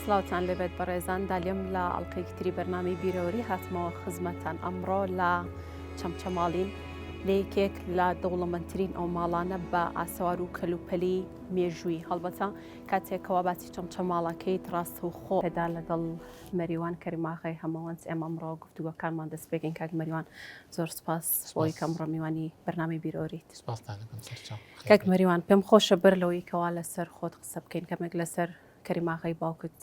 سڵاوتان لێبێت بەڕێزان دالیم لە ئەڵلقەیەکی تری بەرنامی بیرەوەری هاتمەوە خزمەتان ئەمڕۆ لە چەمچەماڵین لە یەکێک لە دەوڵەمەندترین ئەو ماڵانە بە ئاسەوار و کەلوپەلی مێژووی هەڵبەتە کاتێکەوە باسی چەمچەماڵەکەیت ڕاستە و خۆ پێدا لەگەڵ مەریوان کەریماغای هەمەوەنس ئێمەمڕۆ گفتوگەکانمان دەست پێکەین کاک مەریوان زۆر سپاس بۆی کەم ڕمیوانی بەرنامی بیرۆریت کاک مەریوان پێم خۆشە بەر لەوەی کەوا لەسەر خۆت قسە بکەین کەمێک لەسەر کەریم ئاغای باوکت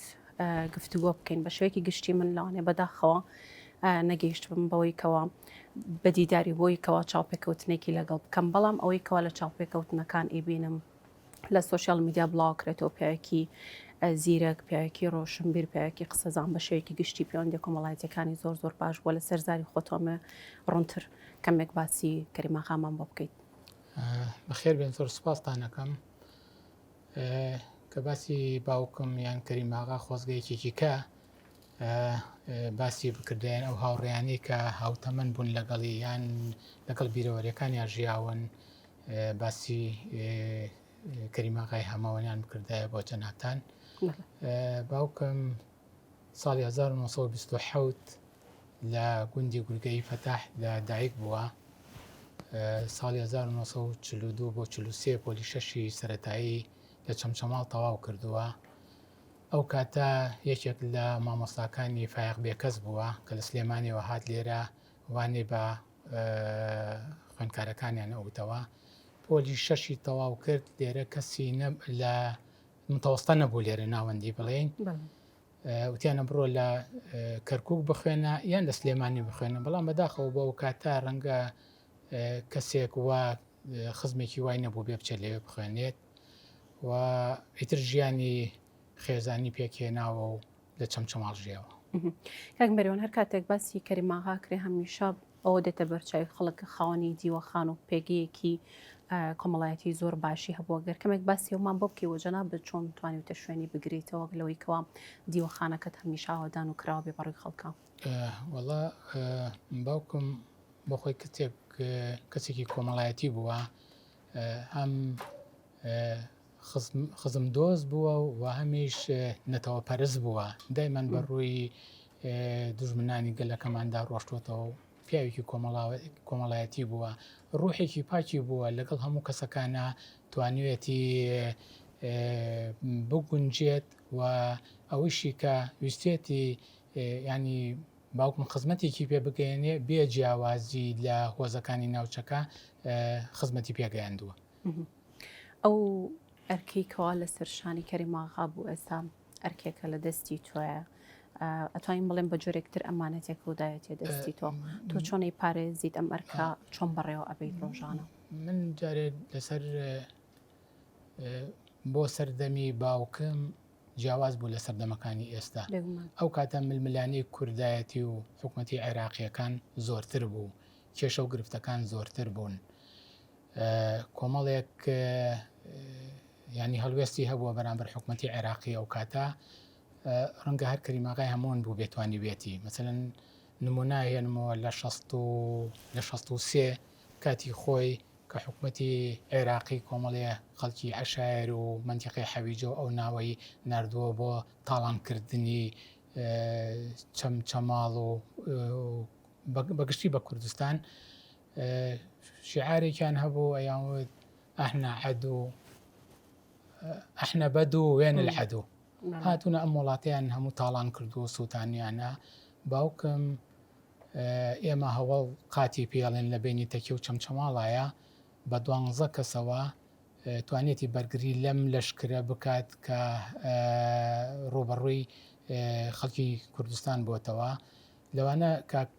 گفتوگۆ بکەین بە شێوەیەکی گشتی من لەوانێ بەداخەوە نەگەیشتبم بەوەی کەوا بە دیداری بۆی کەوا چاوپێکەوتنێکی لەگەڵ بکەم بەڵام ئەوەی کەوا لە چاوپێکەوتنەکان ئیبینم لە سوۆسیال میدیا بڵاوکرێتەوە پیاوێکی زیرەک پیاوێکی ڕۆشنبیر پیاوێکی قسەزان بە شێوێکی گشتی پەیوەندی کۆمەڵایەتەکانی زۆر زۆر باش بووە لە سەرزاری خۆتۆمە ڕونتر کەمێک باسی کەریماخامان بۆ بکەیت بەخێر بێن زۆر سپاستانەکەم کە باسی باوکم یان کەریماغا خۆزگەیەکێکیکە باسی بکردیان ئەو هاوڕیانی کە هاوتەمەن بوون لەگەڵی یان لەگەڵ بیرەوەریەکانیان ژیاون باسی کەریماغای هەمەوەنیان بکردایە بۆ جەناتان باوکم ساڵی 1920 لە گوندی گورگەی فەتاح لە دایک بووە ساڵی 1942 بۆ 43 پۆلی شەشی سەتایی لە چەمچەماڵ تەواو کردووە ئەو کاتە یەکێک لە مامۆستاکانی فایق بێکەس بووە کە لە سلێمانەوە هاات لێرە وانێ بە خوێندکارەکانیان ئەوتەوە پۆلی شەشی تەواو کرد لێرە کەسی لە متەوەستە نەبوو لێرە ناوەندی بڵێن وتیان ە بڕۆ لە کەرکوک بخوێنە یان لە سلێمانی بخوێنە بەڵام بەداخەوە بە وکاتە ڕەنگە کەسێک وا خزمێکی وای نەبوو بێ بچێت لەوێ بخوێنێت و ئیتر ژیانی خێزانی پێکهێناوە و لە چەمچەماڵ ژیاوە کاک مەریوان هەر کاتێک باسی کەریماغا کرێ هەمیشە ئەوە دێتە بەرچاوی خەڵک کە خاوەنی دیوەخان و پێگەیەکی کۆمەڵایەتی زۆر باشی هەبووە گەر کەمێک باسی ئەومان بۆ بکەی وەجەنا بە چۆن توانیوتە شوێنی بگرێتەوە لەوەی کەوا دیوەخانەکەت هەمیش ئاوادان و کراوە بێ بەڕووی خەڵکە وەڵا باوکم بۆ خۆی کتێک کەسێکی کۆمەڵایەتی بووە هەم خزم دۆست بووە و وەهەمیش نەتەوە پەرست بووە دایمان بە ڕووی دوژمنانی گەلەکەماندا ڕۆشتوتەوە پیاوێکی کۆمەڵایەتی بووە ڕوحێکی پاکی بووە لەگەڵ هەموو کەسەکانە توانوێتی بگونجێت و ئەوشی کە ویستێتی ینی باوکم خزمەتێکی پێ بگەێنێ بێ جیاوازی لە هۆزەکانی ناوچەکە خزمەتی پێگەیاندووە. ئەو ئەرکەی کەوا لەسەر شانی کەریم ئاغا بوو ئێستا ئەرکێکە لە دەستی تۆیە ئەتوانین بڵێن بە جۆرێکتر ئەمانەتێک ڕووداوێتێ دەستی تۆ تۆ چۆنەی پارێزیت ئەم ئەرکا چۆن بەڕێوە ئەبی ڕۆژانە من جارێ لەسەر بۆ سەردەمی باوکم جیاواز بوو لە سەردەمەکانی ئێستا ئەو کاتە ململانەی کوردایەتی و حکوومەتتی عێراقیەکان زۆرتر بوو کێشە و گرفتەکان زۆرتر بوون کۆمەڵێک ینی هەڵوێستی هەبووە بەرامبەر حکوومەتتی عێراقی ئەو کاتە ڕەنگە هەر کەریماغای هەموون بوو بێتوانی بێتی مەسەن نموناهێنمەوە لە لە 16 کاتی خۆی کە حکوومەتتی عێراقی کۆمەڵێ خەڵکی عشایر و منتیقی حەویجە و ئەو ناوەی نردووە بۆ تاڵانکردنی چەمچەماڵ و بە گشتی بە کوردستان شعارێکیان هەبوو ئەیان وت ئەحنا عەدو ئەحنە بەدو وێن العەدو هاتوونە ئەم وڵاتیان هەموو تاڵان کردو و سووتانیانە باوکم ئێمە هەوڵ قاتی پێڵێن لە بینی تەکی و چەمچەماڵایە بە دوانزە کەسەوە توانیەتی بەرگری لەم لەشکرە بکات کە ڕووبەڕووی خەڵکی کوردستان بۆتەوە لەوانە کاک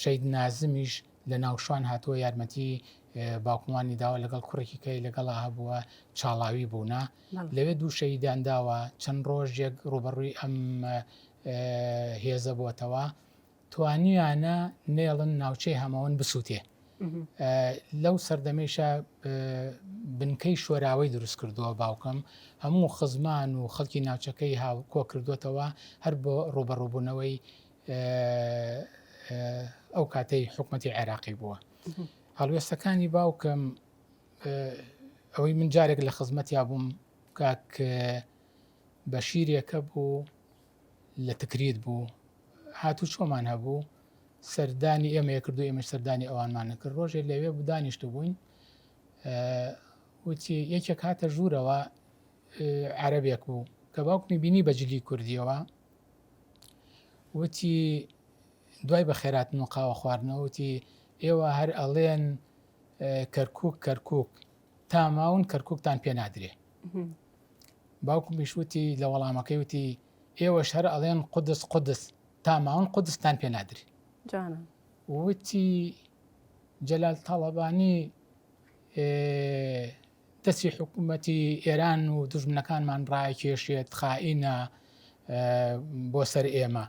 شەید نازمیش لە ناوشوان هاتووە یارمەتی باوکمانی داوە لەگەڵ کوڕێکی کەی لەگەڵا هەبووە چاڵاوی بوونە لەوێ دوو شەیدان داوە چەند ڕۆژێک ڕوبەڕووی ئەم هێزە بۆتەوە توانیویانە نێڵن ناوچەی هەمەوەن بسووتێ لەو سەردەمەیشە بنکەی شۆراوەی دروست کردووە باوکم هەموو خزمان و خەڵکی ناوچەکەی هاو کۆ کردوێتەوە هەر بۆ ڕوبەڕوبوونەوەی ئەو کاتەی حکوومەتی عێراقی بووە هەڵوێستەکانی باوکم ئەوەی من جارێک لە خزمەتیا بووم کاک بە شیرێکە بوو لە تکریت بوو هاتوو چۆمان هەبوو سەردانی ئێمەیە کردو ئێمەش سەردانی ئەوانمان نەکرد ڕۆژێ لەوێ دانیشت بووین وتی یەکێک هاتە ژوورەوە عەرەبێک بوو کە باوکمی بینی بەجلی کوردیەوە وتی دوای بە خێراتن و قاوە خواردنەوەتی ئێوە هەر ئەڵێن کەرکک کەرکک تا ماون کەرکوکتان پێ نادرێ باوکمیش وتی لە وەڵامەکەی وتی ئێوەش هەر ئەڵێن قودس قودس تا ماون قودستان پێ نادرێ وتی جەلال تاڵەبانی دەستی حکوومەتی ئێران و دژمنەکانمان ڕای کێشێت خائینە بۆ سەر ئێمە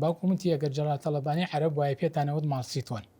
باوکومتی ئەگەر جەڵا تەڵەبانی عرب وایە پێتانەوەت ماڵسیتۆن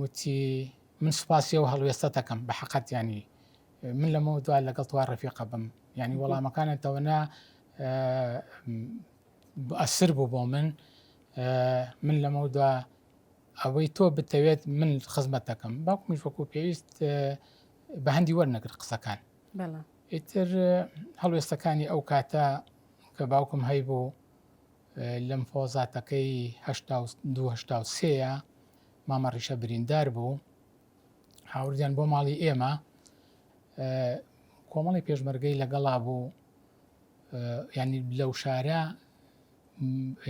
وتی من سوپاسی ئەو هەڵوێستەتەکەم بە حقت ینی من لەمە دوا لەگەڵ توا ڕفیقە بم ینی وەڵامەکانتەوەنا ئەسر بوو بۆ من من لەمە دوا ئەوەی تۆ بتەوێت من خزمەت دەکەم باوک منش وەکو پێویست بە هەندی وەرنەگر قسەکان ئیتر هەڵوێستەکانی ئەو کاتە کە باوکم هەیبوو لیمفۆزاتەکەی هەشتا و دوو هەشتا و سێیە مامە ڕیشە بریندار بوو هاوردیان بۆ ماڵی ئێمە کۆمەڵی پێشمەرگەی لەگەڵا بوو ینی لەو شارە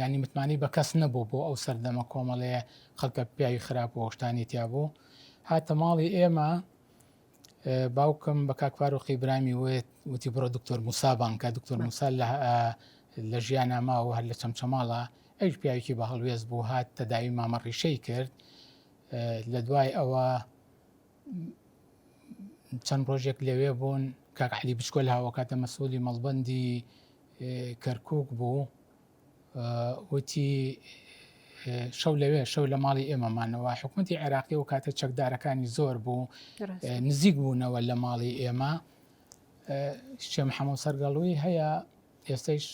ینی متمانی بە کەس نەبوو بۆ ئەو سەردەمە کۆمەڵەیە خەڵکە پیاوی خراپ و هۆشتانی تیا بوو هاتە ماڵی ئێمە باوکم بە کاک فاروقی برامی وت وتی بڕۆ دکتۆر موسا بانکە دکتۆر موسا لە ژیان ناماوە هەر لە چەمچەماڵە ئەوش پیاوێکی بە هەڵوێز بوو هات تەداوی مامە ڕیشەی کرد لە دوای ئەوە چەند ڕۆژێک لەوێ بوون کاکعلی بچکۆل هاوکاتە مەسوولی مەڵبندی کەرکک بوو وتی، شەو لەوێ شەو لە ماڵی ئێمە مانەوە، حکومەتی عێراقی ئەو کاتە چەکدارەکانی زۆر بوو نزیک بوونەوە لە ماڵی ئێمە شێ محەمەوە سەرگەڵوی هەیە ئێستش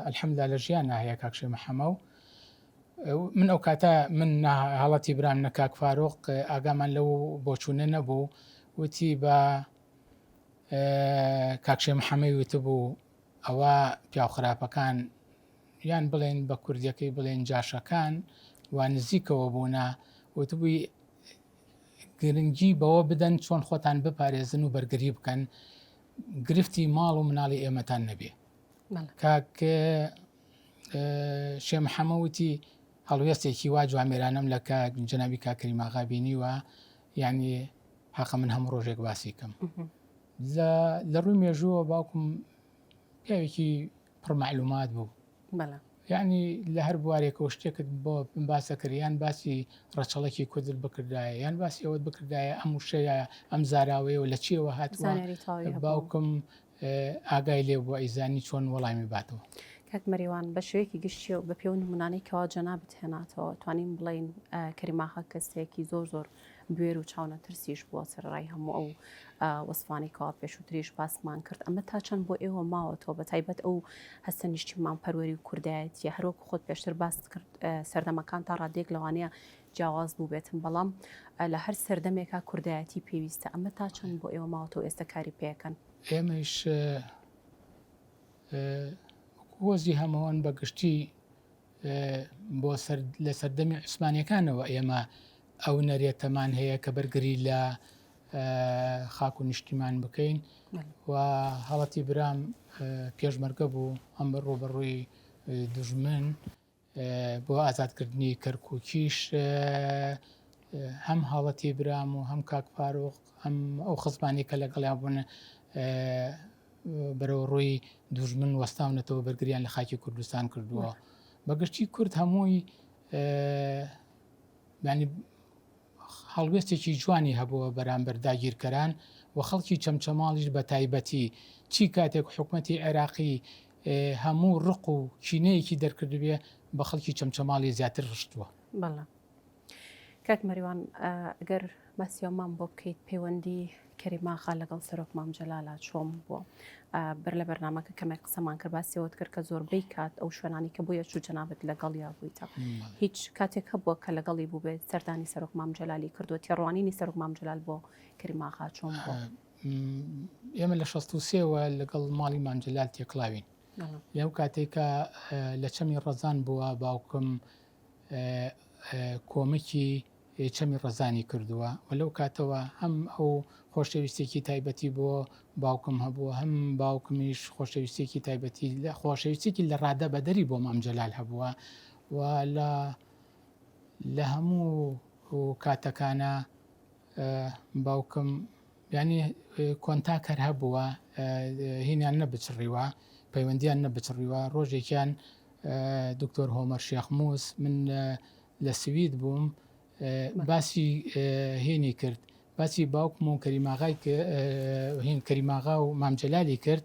ئەلحەمدا لە ژیان ناهەیە کاکشێ محەمە و من ئەو کاتە من هەڵەتی برام نە کاک فاروق ئاگامان لەو بۆچوونە نەبوو وتی بە کاکشێ محەمەی وتبوو ئەوە پیاو خراپەکان یان بڵێن بە کوردیەکەی بڵێن جاشەکان و نزیکەوە بوونا وتبووی گرنگی بەوە بدەن چۆن خۆتان بپارێزن و بەرگری بکەن گرفتی ماڵ و مناڵی ئێمەتان نەبێ کاک شێ محەمەوتی هەڵوێستێکی وا جوامێرانم لە کە جنابی کاکەری ماغابینی وە ینی حەقە من هەموو ڕۆژێک باسی کەم لە لە ڕووی مێژووە باوکم پیاوێکی پڕ معلومات بوو بەڵێ یعنی لە هەر بوارێکەوە شتێکت بۆ باسە کردیان باسی ڕەچەڵکی کوردت بکردایە یان باسی ئەوەت بکردایە ئەم وشەیە ئەم زاراوەیە و لە چیەوە هاتووە زانیاری تەواوی هەبوو. باوکم اه، ئاگای لێ بووە ئەیزانی چۆن وەڵامی باتەوە کاک مەریوان بە شێوەیەکی گشتی و بە پێو نمونانەی کەوا جەنابت هێناتەوە توانین بڵێین ئە، کەریم ئاغا کەسێکی زۆر زۆر بوێر و چاونەترسیش بووە سەرڕای هەموو ئەو وەسفانەی کەوا پێشووتریش باسمان کرد ئەمە تا چەند بۆ ئێوە ماوەتەوە بە تایبەت ئەو هەستە نیشتیمان پەروەری و کوردایەتیە هەروەکو خۆت پێشتر باست کرد سەردەمەکان تا ڕادێک لەوانەیە جیاواز بوو بێتم بەڵام لە هەر سەردەمێکا کوردایەتی پێویستە ئەمە تا چەند بۆ ئێوە ماوەتەوە ئێستا کاری پێەکەن ئێمەش هۆزی هەمەوان بەگشتی بۆ لە سەردەمی عوسمانیەکانەوە ئێمە ئەو نەرێتەمان هەیە کە بەرگری لە خاک و نیشتیمان بکەین و هەڵەتی برام پێشمەرگە بوو ئەم بە ڕوبەڕووی دژمن بۆ ئازادکردنی کەرکووکیش هەم هەڵەتی برام و هەم کاکپارۆخ ئەم ئەو خزمانی کە لەگەڵیان بوون بەرەو ڕووی دوژمن وەستاونەتەوە بەرگریان لە خاکی کوردستان کردووە بەگشتی کورد هەمووی ینی هەڵوێستێکی جوانی هەبووە بەرامبەر داگیرکەران و خەڵکی چەمچەماڵیش بە تایبەتی چی کاتێک حکوومەتتی عێراقی هەموو ڕق و چینەیەکی دەرکردبێ بە خەڵکی چەمچەماڵی زیاتر ڕشتووە. کاک مەریوان گەر باسیەومان بۆ بکەیت پەیوەندی کەریماخا لەگەڵ سەرۆک مام جەلالا چۆم بووە بەر لە بەرنمەکە کەمێک قسەمان کرد باسیەوەت کرد کە زۆربەی کات ئەو شوێنانی کە بۆیە چوو جەنابەت لەگەڵ یا بوویتە هیچ کاتێک هەبووە کە لەگەڵی بووبێت سەردانی سەرۆک مام جەلالی کردو تێڕوانینی سەرۆک مام جلال بۆ کەریماخا چۆم ئێمە لە 16ەوە لەگەڵ ماڵی مامجلال تێکڵاوین لەو کاتێکە لە چەمی ڕەزان بووە باوکم کۆمەکی چەمی ڕەزانی کردووە و لەو کاتەوە هەم ئەو خۆشەویستێکی تایبەتی بۆ باوکم هەبووە هەم باوکمیش خۆشەویستێکی تایبەتی لە خۆشەویستێکی لە ڕادە بەدەری بۆ مام جەلال هەبووە و لە لە هەموو کاتەکانە باوکم یانی کۆنتاک هەر هەبووە هینیان نەبچڕیوە پەیوەندیان نەبچڕیوە ڕۆژێکیان دکتۆر هۆمەر شێخموس من لە سوید بووم باسی هینی کرد باسی باوکم و کەریماغای هین کەریماغا و مامجلالی کرد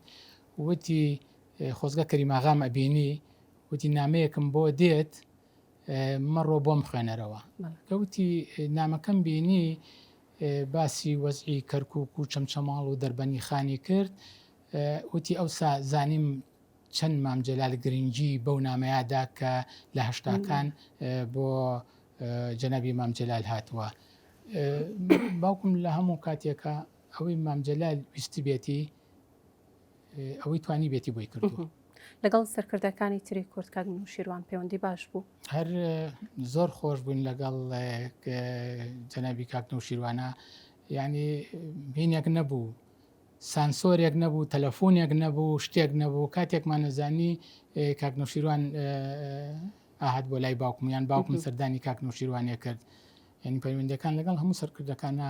وتی خۆزگە کەریماغام ئەبینی وتی نامەیەکم بۆ دێت مەڕۆ بۆم خوێنەرەوە کەوتی نامەکەم بینی باسی وەزعی کەرکک و چەمچەماڵ و دەربەنی خانی کرد وتی ئەو زانیم چەند مامجلال گرنگی بەو نامەیادا کە لە هەشتاکان بۆ جەنابی مامجلال هاتووە باوکم لە هەموو کاتێکە ئەوەی مامجلال ویستی بێتی ئەوەی توانیبێتی بۆی کردووە لەگەڵ سەرکردەکانی تری کورد کاک نوشیروان پەیوەندی باش بوو هەر زۆر خۆش بوون لەگەڵ جەنابی کاک نوشیروانە ینی بینێک نەبوو سانسۆرێک نەبوو تەلەفۆنێک نەبوو شتێک نەبوو کاتێکمان نەزانی کاک نوشیروان ئاهات بۆ لای باوکم یان باوکم سەردانی کاک نوشیروانێ کرد یعنی پەیوەندەکان لەگەڵ هەموو سەرکردەکانە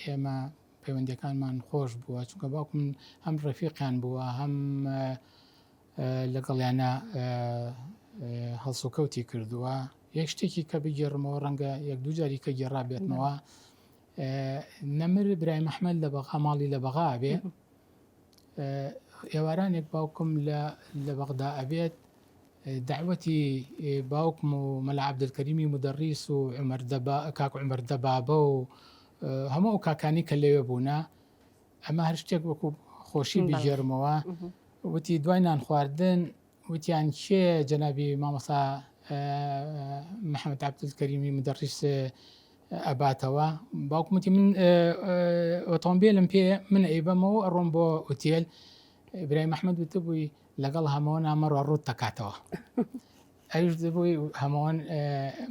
ئێمە پەیوەندیەکانمان خۆش بووە چونکە باوکم هەم ڕێفیقیان بووە هەم لەگەڵیانە هەڵسوکەوتی کردووە یەک شتێکی کە بگێڕمەوە ڕەنگە یەک دوو جاری کە گێڕا بێتمەوە نەمر برای مححمل لە بەغا ماڵی لە بەغا بێ ئێوارانێک باوکم لە بەغدا ئەبێت داوەتی باوکم و مەلا عبدکەریمی مدەڕیس و عمەردەبا کاک عمەردەبابە و هەموو ئەو کاکانی کە لەوێ بوونە ئەمە هەر شتێک وەکو خۆشی بگێرمەوە وتی دوای نان خواردن وتیان کێ جەنابی مامەسا محەممەد عبدول کەریمی مدەڕیس ئەباتەوە باوکمتی من ئۆتۆمبیلم پێ من ئەیبەمەوە ئەڕۆم بۆ ئوتێل برای مححمد وتبووی لەگەڵ هەمەوە نامەڕە ڕوت دەکاتەوە. ئەویش دەبووی هەمووان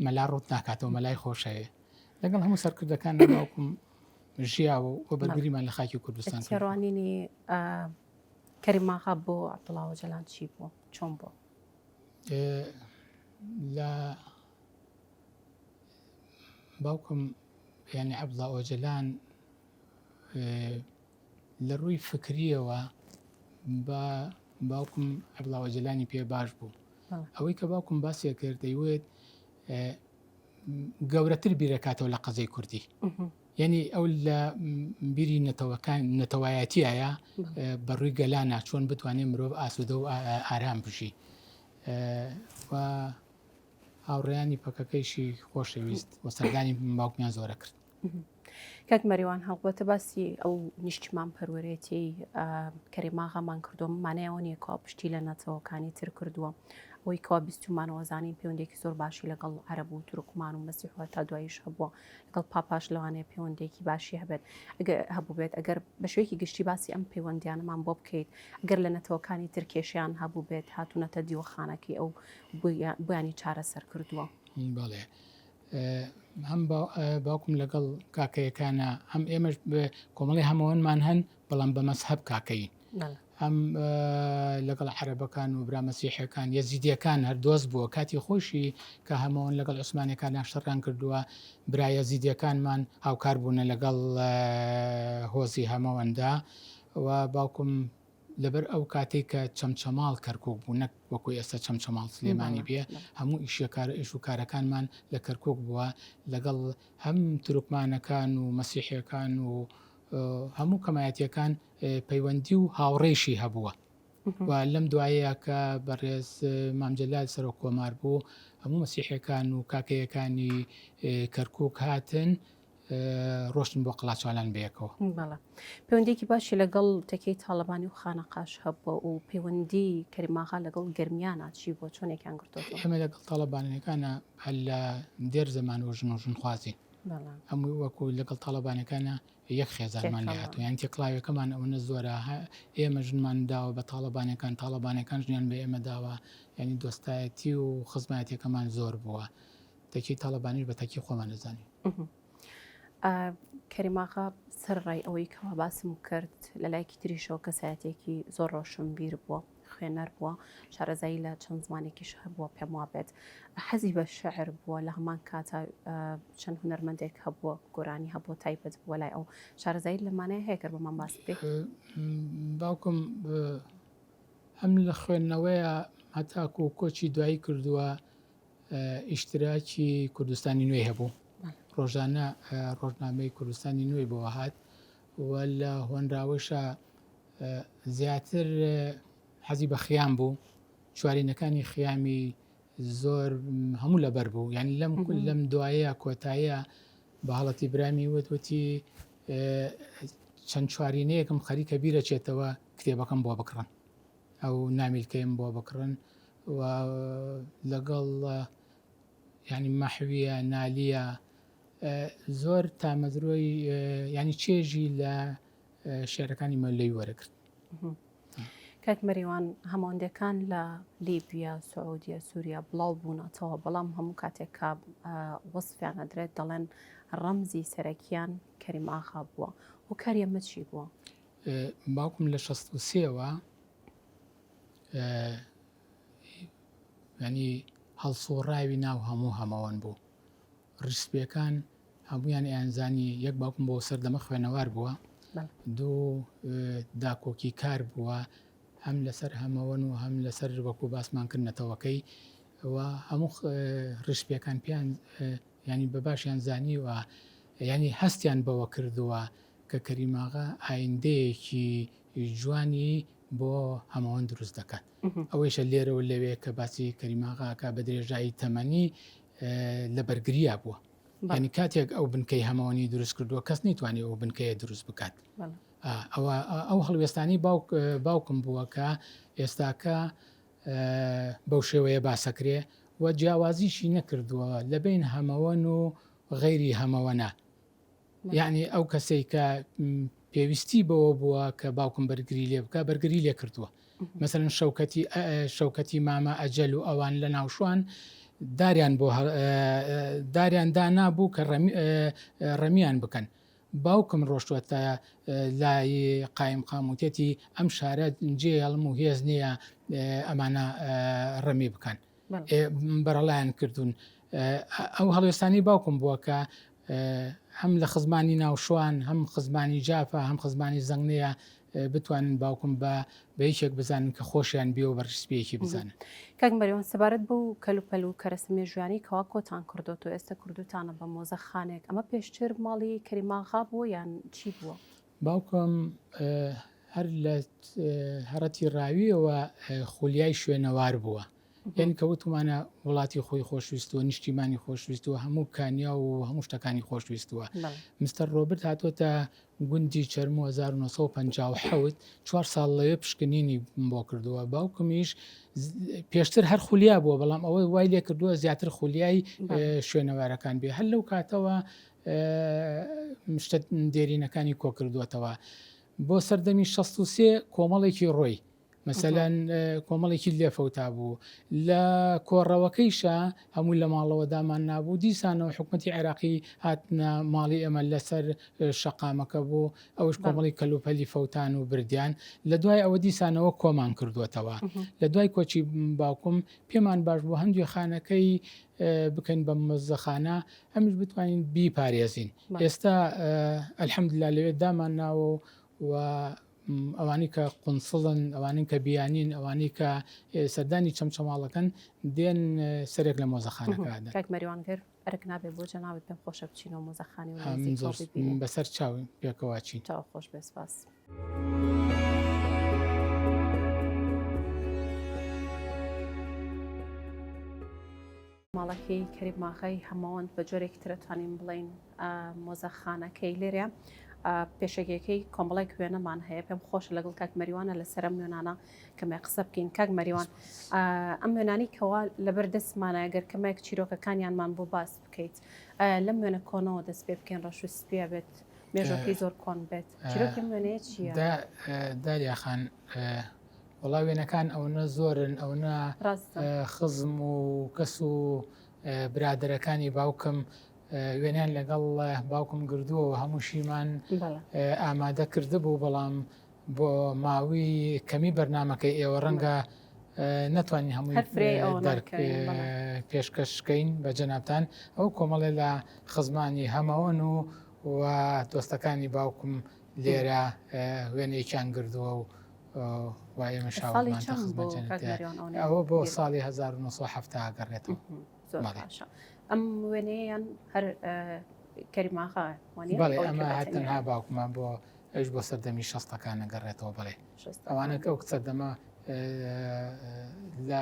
مەلا ڕوت ناکاتەوە مەلای خۆشەیە لەگەڵ هەموو سەرکردەکان ناوکم ژیاوە و بەگوریمان لە خاکی کوردستان ڕوانینی کەریماغا بۆ عبدڵاوە جەلان چی بوو چۆن بۆ لە باوکم یعنی عبدڵاوە جەلان لە ڕووی فکرییەوە با باوکم عەبدوڵا ئۆجەلانی پێ باش بوو. ئەوەی کە باوکم باسیە کرد دەیوت گەورەتر بیرەکاتەوە لە قەزەی کوردی. یعنی ئەو لە بیری نەتەوەکان نەتەوایەتیایە بەڕووی گەلا ناچۆن بتوانێت مرۆڤ ئاسوودە و ئارام بژی. هاوڕێیانی پەکەکەیشی خۆشەویست وە سەردانی باوکمیان زۆرە کرد. کاک مەریوان هەڵبەتە باسی ئەو نیشتمان پەروەرێتی کەریماغامان کردوم مانایەوە نیە کوا پشتی لە نەتەوەکانی تر کردووە ئەوی کوا بیستمانەوەزانانی پەیوەندێکی زۆر باشی لەگەڵ عرب و تورکمان و مەسیحوە تا دوایش هەبووە لەگەڵ پاپاش لەوانەیە پەیوەندێکی باشی هەبێت هەبوو بێت ئەگەر بە شوێکی گشتی باسی ئەم پەیوەندیانەمان بۆ بکەیت گەر لە نەتەوەکانی ترکێشیان هەبوو بێت هاتوونەتە دیوەخانەکەی ئەو بۆیانی چارەسەر کردووە. بەڵێ هەم باوکم لەگەڵ کاکەیەکانە هەم ئێمەش کۆمەڵی هەمەوەنمان هەن بەڵام بە مەسحب کاکەین هەم لەگەڵ عربەکان و برامەسیحەکان یەزیدیەکان هەر دۆست بووە کاتی خۆشی کە هەمەوەن لەگەڵ عوسمانەکان ناشتەڕان کردووە برایە زیدیەکانمان هاوکار بوونە لەگەڵ هۆزی هەمەوەندا و باوکم لەبەر ئەو کاتەی کە چەمچەماڵ کەرکوک بوو نەک وەکو ئێستا چەمچەماڵ سلێمانی بێ هەموو ئیشە کارە ئێش و کارەکانمان لە کەرکوک بووە لەگەڵ هەم تورکمانەکان و مەسیحەکان و هەموو کەمایەتەکان پەیوەندی و هاوڕێشی هەبووە و لەم دوایەیە کە بەڕێز مامجلال سەرۆک کۆمار بوو هەموو مەسیحەکان و کاکەیەکانی کەرکک هاتن ڕۆشتن بۆ قلاچوالان بەیەکەوە. بەڵێ پەیوەندیەکی باشی لەگەڵ تەکەی تاڵەبانی و خانەقاش هەبووە و پەیوەندی کەریماغا لەگەڵ گەرمیانە چی بووە چۆنێکیان گرتۆتەوە؟ ئێمە لەگەڵ تاڵەبانیەکانە هەر لە دێر زەمانەوە ژن و ژن خوازین هەمووی وەکو لەگەڵ تاڵەبانەکانە یەک خێزانمان لێ هاتوو یان تێکڵاوەکەمان ئەوەنە زۆرە ئێمە ژنمان داوە بە تاڵەبانەکان تاڵەبانەکان ژنیان بە ئێمە داوە ینی دۆستایەتی و خزمایەتەکەمان زۆر بووە تەکی تاڵەبانیش بە تەکی خۆمان دەزانین کەریماغا سەر ڕای ئەوەی کەوا باسم کرد لە لایەکی تریشەوە کەسایەتێکی زۆر ڕۆشن بیر بووە خوێنەر بووە شارەزایی لە چەند زمانێکیش هەبووە پێم وابێت حەزی بە شعر بووە لە هەمان کاتا چەند هوەرمەندێک هەبووە گۆرانی هەبووە تایبەت بووە لای ئەو شارەزایی لەمانەیە هەیە کە بەمان باس بێ باوکم هەم لە خوێندنەوەیە هەتاکو کۆچی دوایی کردووە ئیشتراکی کوردستانی نوێی هەبوو ڕۆژانە ڕۆژنامەی کوردستانی نوێی بۆ هاات و لە هۆنراوەشە زیاتر حەزی بە خیان بوو چوارینەکانی خیامی زۆر هەموو لەبەر بوو یان لەم کول لەم دوایە کۆتایە بە هەڵەتی برامی وتوتی چەند چوارینەیەکم خەریکە بیرەچێتەوە کتێبەکەم بۆ بکڕن ئەو نامیلکەیم بۆ بکڕن و لەگەڵ ینی مەحویە نالیە زۆر تامەزرۆی ینی چێژی لە شعرەکانی مەلەی وەرەگرت. کاک مەریوان هەماندەکان لە لیبیا سعودیە سووریا بڵاو بوونەتەوە بەڵام هەموو کاتێک کا وەصفیان ئەدرێت دەڵێن ڕەمزی سەرەکیان کەریم ئاخا بووە و کەریەمە چی بووە؟ باوکم لە شەست و سێ وە یانی هەڵسووڕاوی ناو هەموو هەمەوەن بوو ڕیسپیەکان هەمویان ئەیانزانی یەک باوکم بۆ سەردەمە خوێنەوار بووە دوو داکۆکی کار بووە هەم لەسەر هەمەوەن و هەم لەسەر وەکو باسمان کرد نەتەوەکەی و هەموو ڕشپیەکان پێیان ینی بە باشیان زانیوە ینی هەستیان بەوە کردووە کە کەریم ئاغا ئایندەیەکی جوانی بۆ هەمەوەند دروست دەکات ئەوەیشە لێرە و لەوێ کە باسی کەریم ئاغاکە بە درێژایی تەمەنی لە بەرگریا بووە ینی کاتێک ئەو بنکەی هەمەوەنی دروست کردووە کەس نیتوانێت ئەو بنکەیە دروست بکات ئەوە ئەو هەڵوێستانی باوک باوکم بووە کە ئێستاکە بەو شێوەیە باسەکرێ و جیاوازیشی نەکردووە لە بین هەمەوەن و غەیری هەمەوەە یەعنی ئەو کەسەی کە پێویستی بەوە بووە کە باوکم بەرگری لێ بکە بەرگری لێ کردووە مەسەن شەوکەتی شەوکەتی مامە ئەجەل و ئەوان لە ناوشوان داریان بۆ داریان دانا بوو کە ڕەمیان بکەن باوکم ڕۆشتوەتە لای قایم قاموتێتی ئەم شارە جێ هەڵم و هێز نییە ئەمانە ڕەمی بکەن بەرەڵایان کردوون. ئەو هەڵوێستانەی باوکم بووە کە هەم لە خزمانی ناوشوان هەم خزمانی جافە هەم خزمانی زەنگنەیە بتوانن باوکم بە بە یەکێک بزانن کە خۆشیان بێ و بە ڕسپیەکی بزانن کاک مەریوان سەبارەت بەو کەلوپەل و کەرەسە مێژویانی کەوا کۆتان کردوت و ئێستا کردوتانە بە مۆزەخانێک ئەمە پێشتر ماڵی کەریماغا بووە یان چی بووە؟ باوکم هەر لە هەڕەتی ڕاوییەوە خولیای شوێنەوار بووە. یانی کە وتمانە وڵاتی خۆی خۆشویستووە، نیشتیمانی خۆشویستووە، هەموو کانیا و هەموو شتەکانی خۆشویستووە. مستەر ڕۆبرت هاتۆتە گوندی چەرموو 1950 چوار ساڵ لەوێ پشکنینی بۆ کردووە. باوکمیش پێشتر هەر خولیا بووە، بەڵام ئەوە وای لێ کردووە زیاتر خولیای شوێنەوارەکان بێ. هەر لەو کاتەوە شتە دێرینەکانی کۆکردووەتەوە. بۆ سەردەمی شەست و سێ کۆمەڵێکی ڕۆی مەسەلەن کۆمەڵێکی لێفەوتا بوو لە کۆڕەوەکەیشە هەموو لە ماڵەوە دامان نابوو دیسانەوە حکوومەتتی عێراقی هاتنە ماڵی ئێمە لەسەر شەقامەکە بوو ئەوش کۆمەڵی کەلوپەلی فەوتان و بردیان لە دوای ئەوە دیسانەوە کۆمان کردووەتەوە لە دوای کۆچی باوکم پێمان باش بوو هەندێک خانەکەی بکەین بە مزەخانە ئەمیش بتوانین بیپارێزین ئێستا الحمدللە لەوێ دامان ناوە و ئەوانی کە قونسڵن ئەوانن کە بیانین ئەوانی کە سەردانی چەمچەماڵەکەن دێن سەرێک لە مۆزەخانەکەمەریوانگەر ئەرک نابێت بۆ جەناوت پێم خۆشە بچین و مۆزەخانی و بەسەر چاوی پێکەواچین چاو خۆش بێ سپاس. ماڵەکەی کەریم ئاغای هەمەوەند بە جۆرێکی ترە توانین بڵێین مۆزەخانەکەی لێرە پێشەگەکەی کۆمەڵێک وێنەمان هەیە پێم خۆش لەگەڵ کاک مەریوانە لە سەرم نوێنانە کەمێک قسە بکەین کاک مەریوان ئەم وێنانی کەوا لەبەر دەستمانە گەر کەمێک چیرۆکەکانیانمان بۆ باس بکەیت لەم وێنە کۆنەوە دەست پێ بکەین ڕەش و سپیا بێت مێژەکەی زۆر کۆن بێت چیرۆکم وێنەیە چیە داریاخان وەڵا وێنەکان ئەوەنە زۆرن ئەوەنە خزم و کەس و برادەرەکانی باوکم وێنیان لەگەڵ باوکم گردووە و هەمووشیمان ئامادە کرده بوو بەڵام بۆ ماوی کەمی بەرنمەکەی ئێوە ڕەنگە ناتوانین هەمووی دەرک پێشکەشکەین بە جەنابان ئەو کۆمەڵێ لە خزمانی هەمەوەن و و دۆستەکانی باوکم لێرە وێنەیەکیان گردووە و وایە ئەوە بۆ ساڵی 1970 گەڕێتەوە ئەم وێنەیەیان هەر کەریماخە ئەمە هەتەنها باوکمان بۆ ئەوش بۆ سەردەمی شەستەکان نەگەڕێتەوە بڵێ ئەوانە ئەو سەردەمە لە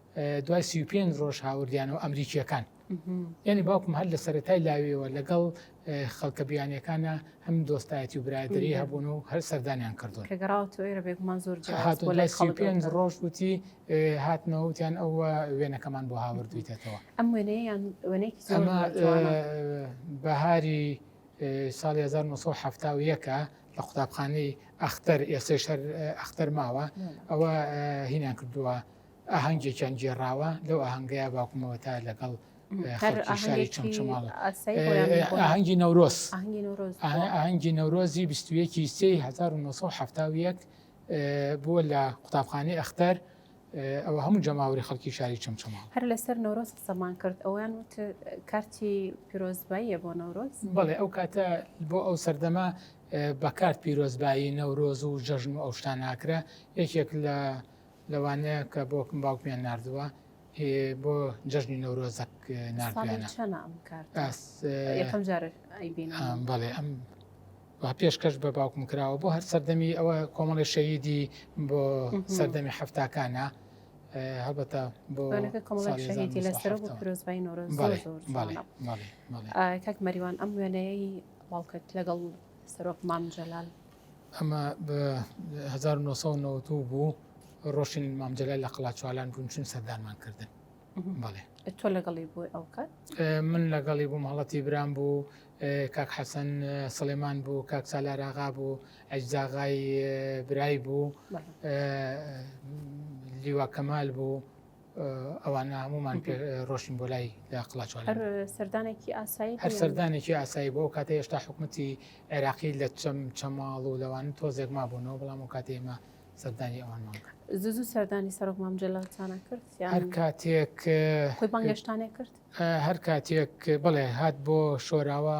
دوای سی و پێنج ڕۆژ هاوردیانەوە ئەمریکییەکان یعنی باوکم هەر لە سەرەتای لاویەوە لەگەڵ خەڵکە بیانیەکانە هەم دۆستایەتی و برادری هەبوون و هەر سەردانیان کردو بێگومان زۆر پێنج ڕۆژ وتی هاتنەوەوتیان ئەو وێنەکەمان بۆ هاوردویتەوە ئەم وێنەیان وێنێکی بەهاری ساڵ 1970ەکە لە قوتابخانەی ئەختەر ئێسێشەر ئەختەر ماوە ئەوە هینان کردووە ئاهەنگێکیان گێڕاوە لەو ئاهەنگەیە باوکمەوە تا لەگەڵ شاری چمچماڵ ئاهەنگی نەورۆز ئاهەنگی نەورۆزی 1970 بووە لە قوتابخانەی ئەختەر ئەوە هەموو جەماوری خەڵکی شاری چمچماڵ هەر لەسەر نەورۆز قسەمان کرد ئەویان وت کارتی پیرۆزباییە بۆ نەورۆز بڵێ ئەو کاتە بۆ ئەو سەردەما بەکارت پیرۆزبایی نەورۆز و جەژن و ئەو شتان ناکرا یەکێک لە لەوانەیە کە بۆ باوکمیان نردووە بۆ جەژنی نەورۆزەک بەڵێ ئەم پێشکەش بە باوکم کراوە بۆ هەر سەردەمی ئەوە کۆمەڵی شەیدی بۆ سەردەمی هەفتاکانە هەبەتە بۆ کاک مەریوان ئەم وێنەیە باوکت لەگەڵ سەرۆک مام جەلال ئەمە بە هەزار و نۆ سەد و نەوەد و بوو ڕۆشتین مام جەلال لە قەڵاچوالان بوون چون سەردانمان کردن بەڵێ ئە تۆ لەگەڵی بووی ئەو کات ئێ، من لەگەڵی بووم هەڵەتی برام بوو ئێ، کاک حەسەن ئێ، سڵێمان بوو کاک سالار ئاغا بوو ئەجزاغای ئێ، برای بوو بەڵێ. ئێ، لیوا کەمال بوو ئەوانە هەمومان پێ ڕۆشتین بۆ لای لە قڵاچوان هەر سەردانێکی ئاسایی هەر سەردانێکی ئاسایی بۆ کاتە هێشتا حکوومەتی عێراقی لە چەم چەماڵ و لەوان تۆزێک ما بوونەوە بەڵام و کاتی ئێمە سەردانی ئەوانمان کرد زوزو سەردانی سەرۆک مامجللتانە کرد هەر کاتێک خۆی بانگشتانێ کرد هەر کاتێک بڵێ هات بۆ شۆراوە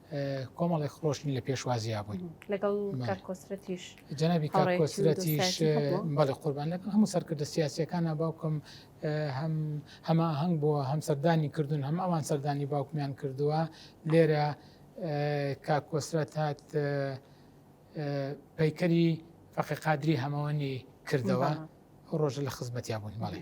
کۆمەڵێک خۆشنی لە پێشوازیا بووین لەگەڵ کۆسرەتیش جەنابی کۆسرەتیش بەڵێ قوربان لەگەڵ هەموو سەرکردە سیاسەکانە باوکم هەم هەما هەنگ بۆ هەم سەردانی کردوون هەم ئەوان سەردانی باوکمیان کردووە لێرە کاکۆسرەت هات پەیکەری فەقی قادری هەمەوەنی کردەوە ڕۆژە لە خزمەتیا بوون مەڵێ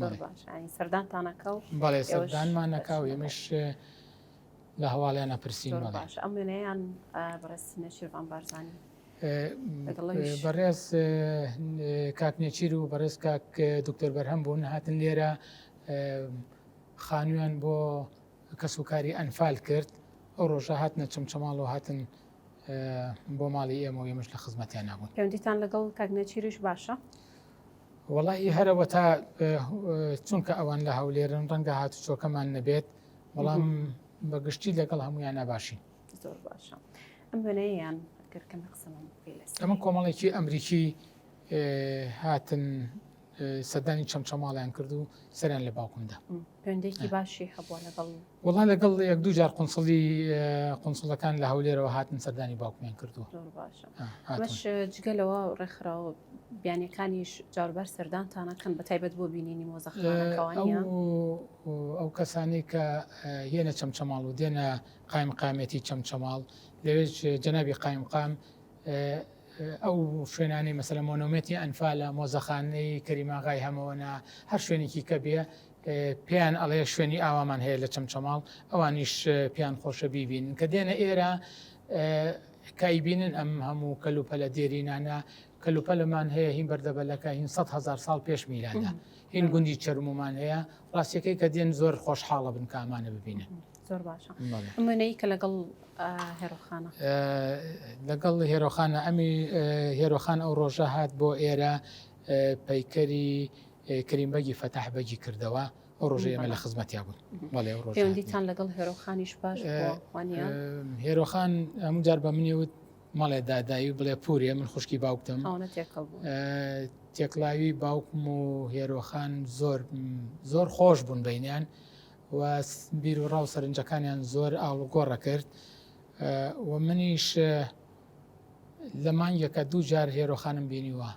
زۆر باش سەردان تانەکە و بەڵێ سەردانمان نەکا و ئێمەش لە هەواڵیان نەپرسین باش ئەم وێنەیان بەڕێز نەشیرڤان بارزانی بەڕێز کاک نێچیر و بەڕێز کاک دکتۆر بەرهەم بوون هاتن لێرە خانوویان بۆ کەس و کاری ئەنفال کرد ئەو ڕۆژە هاتنە چمچەماڵ و هاتن بۆ ماڵی ئێمە و ئێمەش لە خزمەتیان نبوون پێوەندیتان لەگەڵ کاک نێچیریش باشە وەڵاهی هەرەوەتا چونکە ئەوان لە هەولێرن ڕەنگە هاتوچۆکەمان نەبێت بەڵام بەگشتی لەگەڵ هەمویان ناباشین زۆر باشە ئەم وێنەیەیان گەرکەم قسەمان ئەمە کۆمەڵێکی ئەمریکی هاتن سەدانی چەمچەماڵیان کرد و سەریان لە باوکمدا پێندێکی باشی هەبووە لەگەڵ وەڵا لەگەڵ یەک دوو جار قنسڵی قنسڵەکان لە هەولێرەوە هاتن سەردانی باوکمیان کردووە جگەلەوە ڕێکخراوە بیانەکانیش جاربار سەردانتانەکەن بە تایبەت بۆ بینینی مۆزەخانەکەوانی ئەو کەسانی کە هێنە چەمچەماڵ و دێنە قایم قامێتی چەمچەماڵ لەوێ جەنابی قایم قام ئەو شوێنانی مەسەلە مۆنۆمێتی ئەنفالە مۆزەخانەی کەریماغای هەمەوەنا هەر شوێنێکی کە بێ پێیان ئەڵێ شوێنی ئاوامان هەیە لە چەمچەماڵ ئەوانیش پێیان خۆشە بیبینن کە دێنە ئێرە کایبینن ئەم هەموو کەلوپەلە دێرینانە کەلوپەلمان هەیە هین بەردەبەلەکە هین 100 هزار ساڵ پێش میلانە هین گوندی چرممان هەیە ڕاستەکەی کە دێن زۆر خۆشحاڵە بن کامانە ببینن زۆر باشە منەی کە لەگەڵ هێرۆخانە لەگەڵ هێرۆخانە ئەمی هێرۆخان ئەو ڕۆژە هات بۆ ئێرە پەیکەری کریم بەگی فەتاح بەگی کردەوە ئەو ڕۆژەی ئێمە لە خزمەتیا بوون بەڵێ ئەو ڕۆژ هاتنی. پەیوەندیتان لەگەڵ هێرۆخانیش باش بووە، وانە؟ ئێ، هێرۆخان هەموو جار بە منی وت مەڵێ دادایی و بڵێ پورێ من خوشکی باوکتم خاوەنە تێکەڵ بوون. ئێ، تێکڵاوی باوکم و هێرۆخان زۆر زۆر خۆش بوون بەینیان و س- بیر و ڕاو سەرنجەکانیان زۆر ئاڵوگۆڕە کرد ئێ، و منیش ئێ، لە مانگێکە دوو جار هێرۆخانم بینیوە.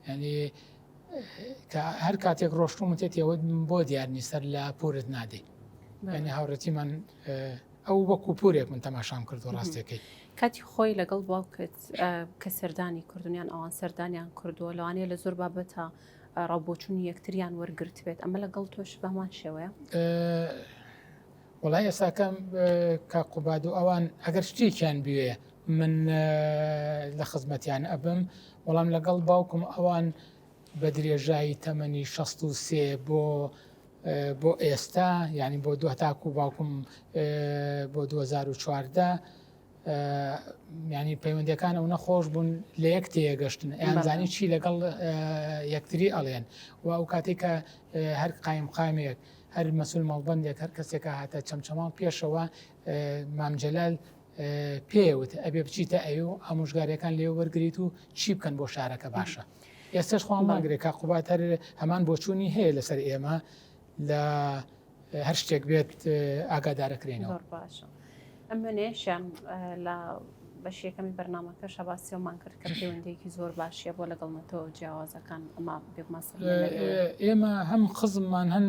ینی هەر کاتێک ڕۆشتوم وتێت ئەوە بۆ دیار نیسەر لە پورت نادەیت ینی هاوڕێتی من ئەو وەکو پورێک من تەماشام کرد و ڕاستەکەی کاتی خۆی لەگەڵ باوکت کە سەردانی کردنیان ئەوان سەردانیان کردووە لەوانەیە لە زۆر بابەتە ڕاوبۆچون یەکتریان وەرگرت بێت ئەمە لەگەڵ تۆش بەمان شێوەیە وەڵا یەساکەم کاک قوباد و ئەوان ئەگەر شتێکیان بوێ من لە خزمەتیان ئەبم وەڵام لەگەڵ باوکم ئەوان بە درێژایی تەمەنی 16 بۆ بۆ ئێستا ینی بۆ دو تاکو باوکم بۆ 2014 ینی پەیوەندەکان ئەو نەخۆش بوون لە یەک تێگەشتن ئەیانزانی چی لەگەڵ یەکتری ئەڵێن و ئەو کاتێک کە هەر قایم قامێک هەر مەسول مەڵبەندێک هەر کەسێک هاتە چەمچەماڵ پێشەوە مام جەلال پێوت ئەبێ بچیتە ئەوێ و ئامۆژگاریەکان لێ وەرگیت و چی بکەن بۆ شارەکە باشە ئێستش خۆم ماگرێک کا قوبات هەر هەمان بۆچوونی هەیە لەسەر ئێمە لە هەر شتێک بێت ئاگادارەکرێنەوە باشە. منێشیان لە بەشیەکەمی بەرنمەکە شەباسیەوەمان کرد کە پەیوەندێکی زۆر باشیە بۆ لەگەڵ نەتەوە جیاوازەکان ئەما بێمەسە ئێمە هەم خزممان هەن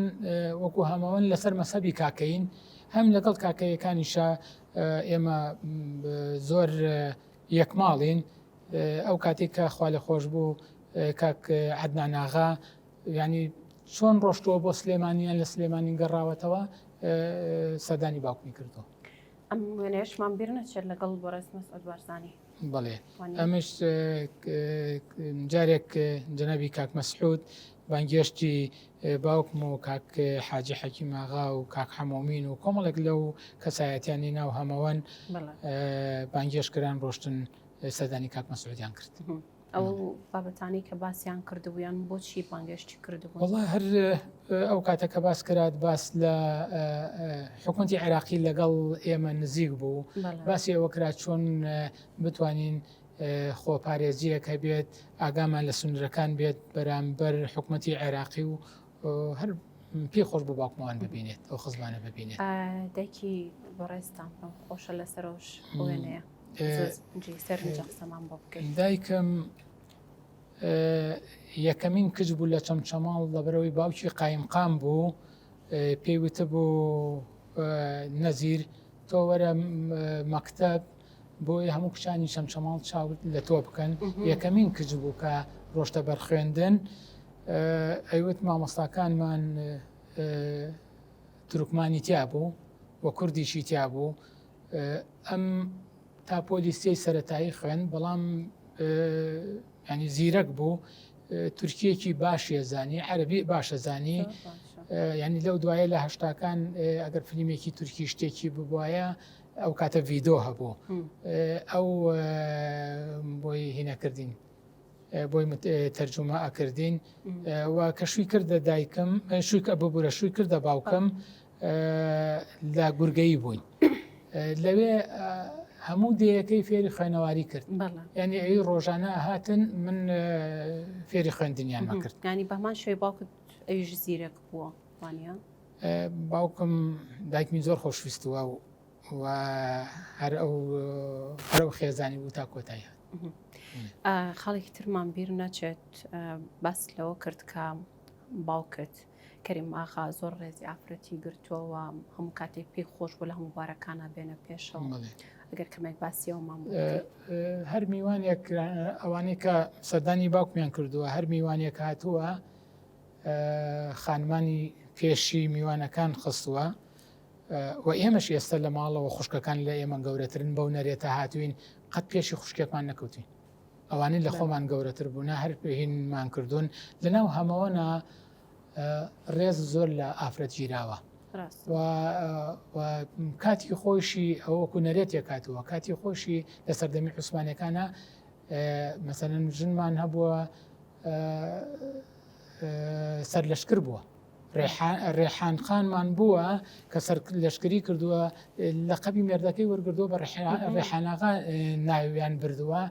وەکو هەمەوەن لەسەر مەسەبی کاکەین هەم لەگەڵ کاکەیەکانیشە ئێمە زۆر یەکماڵین ئەو کاتێک کە خوا لە خۆش بوو کاک عدناناغا یانی چۆن ڕۆشتووە بۆ سلێمانی یان لە سلێمانی گەڕاوەتەوە سەردانی باوکمی کردو ئەم وێنەیەشمان بیر نەچێت لەگەڵ بەڕێز مەسعود بارزانی بڵێ ئەمش جارێک جەنەبی کاک مەسعود بانگێشتی باوکم و کاک حاجی حەکی ماغا و کاک حەمۆمین و کۆمەڵێک لەو کەسایەتیانی ناو هەمەوەن بانگێشکران ڕۆشتن سەردانی کاک مەسعودیان کرد. ئەو بابەتانەی کە باسیان کردبوویان بۆچی بانگێشتی کردبوو وڵا هەر ئەو کاتە کە باس کرات باس لە حکوومەتی عێراقی لەگەڵ ئێمە نزیک بوو باسی ئەوە کرا چۆن بتوانین خۆپارێزیەک هەبێت ئاگامان لە سنوورەکان بێت بەرامبەر حکوومەتی عێراقی و هەر پێی خۆش بۆ باوکمەوان ببینێت ئەو خزمانە ببینێت دەکی بەڕێستان پێم خۆشە لەسەرۆش وێنەیە سەرمان بۆ بکەین دایکم یەکەمین کچ بوو لە چەمچەماڵ لەبەرەوەی باوکی قایمقام بوو پێیوتە بۆ نەزیر تۆ وەرە مەکتب بۆیە هەموو کچانی چەمچەماڵ چاوت لە تۆ بکەن یەکەمین کچ بوو کە ڕۆشتە بەرخوێندن ئەیوت مامۆستاکانمان ترکمانی تیا بوو و کوردیشی تیا بوو ئەم تا پۆلیسیی سەتایی خوێن بەڵام ینی زیرەک بوو تورکیەکی باشە زانی عەربی باشە زانی ینی لەو دوایە لە هەشتاکان ئەگەر فلیمێکی تورکی شتێکی ببواە ئەو کاتە ڤیدۆ هەبوو ئەو بۆی هینەکردین بۆی تەرجمە ئەکردین و کە شووی کردە دایکم شووی کە ببوورە شووی کردە باوکم لە گورگەی بووین لەوێ هەموو دەیەکەی فێری خوێنەواری کرد ینی ئەوی ڕۆژانە هاتن من فێری خوێندنیان کرد ینی بەمان شوێ باوکت ئەویش زیرەک بووە وانە باوکم دایکمی زۆر خۆشویستوە و هەر ئەو هەر ئەو خێزانی بوو تا کۆتایی هات. خاڵێکی ترمان بیر نەچێت باس لەوە کرد کە باوکت کەریم ئاخا زۆر ڕێزی ئافرەتی گرتووەوە هەموو کاتێک پێی خۆش بۆ لە هەموو بارەکانە بێنە پێشەوە ئەگەر کەمێک باسیەوەمان هەر میوانێک ئەوانەی کە سەردانی باوکمیان کردووە هەر میوانێک هاتووە خانمانی پێشی میوانەکان خستووە و ئێمەش ئێستا لە ماڵەوە خوشکەکان لە ئێمە گەورەترن بەو نەرێتە هاتوین قەت پێشی خوشکێکمان نەکەوتین ئەوانەی لە خۆمان گەورەتر بوونا هەر پێهینمان کردوون لەناو هەمەوەنا ڕێز زۆر لە ئافرەت گیراوە کاتی خۆشی ئەوەکو نەرێتێک کاتووە کاتی خۆشی لە سەردەمی عوسمانەکانە مەسەن ژنمان هەبووە سەرلەشکر بووە ڕێحان خانمان بووە کە سەر لەشکری کردووە لە قەبی مێردەکەی وەرگردووە بە ڕێحانەکە ناویان بردووە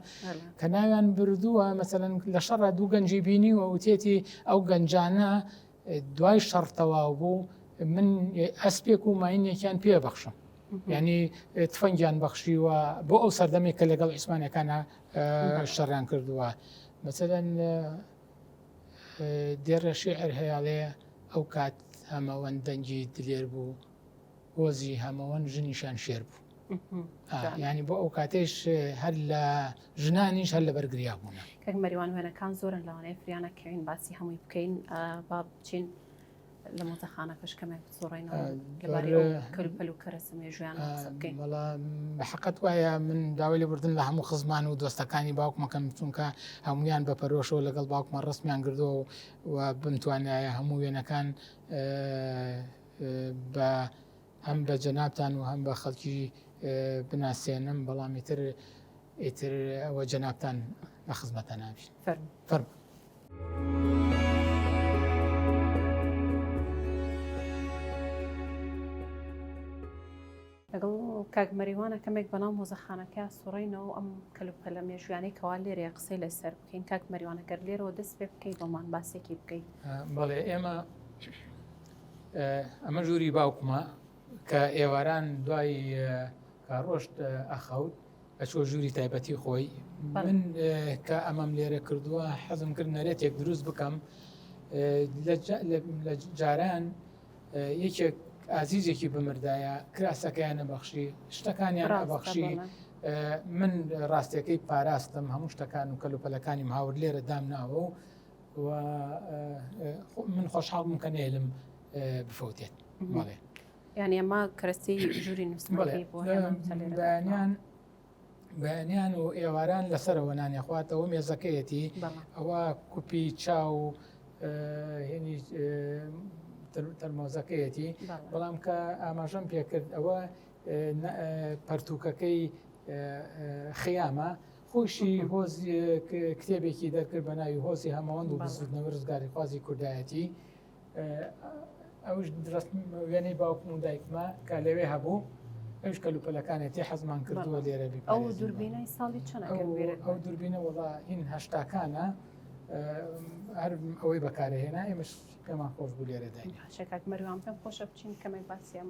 کە ناویان بردووە مەسەن لە شەڕ دوو گەنجی بینی و وتێتی ئەو گەنجانە دوای شەڕ تەواو بوو من ئەسپێک و ماینێکیان پێ بەخشم ینی تفەنگیان بەخشیوە بۆ ئەو سەردەمێک کە لەگەڵ ئیسمانەکانە شەڕیان کردووە مەسەن دێڕە شێعر هەیاڵێ ئەو کات هەمەوەند دەنگی دلێر بوو هۆزی هەمەوەن ژنیشان شێر بوو ینی بۆ ئەو کاتێش هەر لە ژنانیش هەر لە بەرگریا بوون کەک مەریوان وێنەکان زۆرن لەوانەیە فریانە کەین باسی هەمووی بکەین با بچین لە مۆزەخانەکەش کەمێک بسوڕێنەوە لەبارەی ئەو کەلوپەل و کەرەسە مێژویان قسە بکەین. بەڵا حەقەت وایە من داوای لێ بردن لە هەموو خزمان و دۆستەکانی باوکمەکەم چونکە هەمویان بە پەرۆشەوە لەگەڵ باوکمە ڕستمیان گردو و بمتوانایە هەموو وێنەکان بە هەم بە جەنابتان و هەم بە خەڵکی بناسێنم بەڵام ئیتر ئیتر ئەوە جەنابتان لە خزمەتە نابین فەرمو لەگەڵ کاک مەریوانە کەمێک بەناو مۆزەخانەکە سوڕینەوە ئەم کەلوپەلە مێژویانەی کەوا لێرێ قسەی لەسەر بکەین کاک مەریوانەگەر لێرەوە دەست پێ بکەیت بۆمان باسێکی بکەیت بەڵێ ئێمە ئەمە ژووری باوکمە کە ئێواران دوای کاڕۆشت ئەخەوت ئەچۆ ژووری تایبەتی خۆی من کە ئەمەم لێرە کردووە حەزم کرد نەرێتێک دروست بکەم لە جاران یەکێک ئازیزێکی بمردایە کراسەکەیان نەبەخشی شتەکانیان بەخشی من ڕاستەکەی پاراستم هەموو شتەکان و کەلوپەلەکانی هاور لێرە دامناوە و و من خۆشحاڵ بووم کە نێلم بفەوتێت بەڵێ یعنی ئەمە کەرەستی ژووری نووسمەکەی بۆ بەیانیان بەیانیان و ئێواران لەسەرەوە نانێ خواتەوە مێزەکەیەتی ئەوە کوپی چاو و هێنی تەرمۆزەکەیەتی بەڵام کە ئاماژەم پێکرد ئەوە پەرتوکەکەی خیامە خۆیشی هۆز کتێبێکی دەرکرد بە ناوی هۆزی هەمەوەند و بزوتنەوە ڕزگاریخوازی کوردایەتی ئەوش وێنەی باوکم و دایکمە کە لەوێ هەبوو ئەوش کەلوپەلەکانێتی حەزمان کردووە لێرە ئەو دوربینەی ساڵی چەن ئەو دوربینە وڵا هین هەشتاکانە هەر ئەوەی بەکارهێنا ئێمەش پێمان خۆش بوو لێرە دای شکات مەروان پێم خۆشە بچین کەمێک باسیێم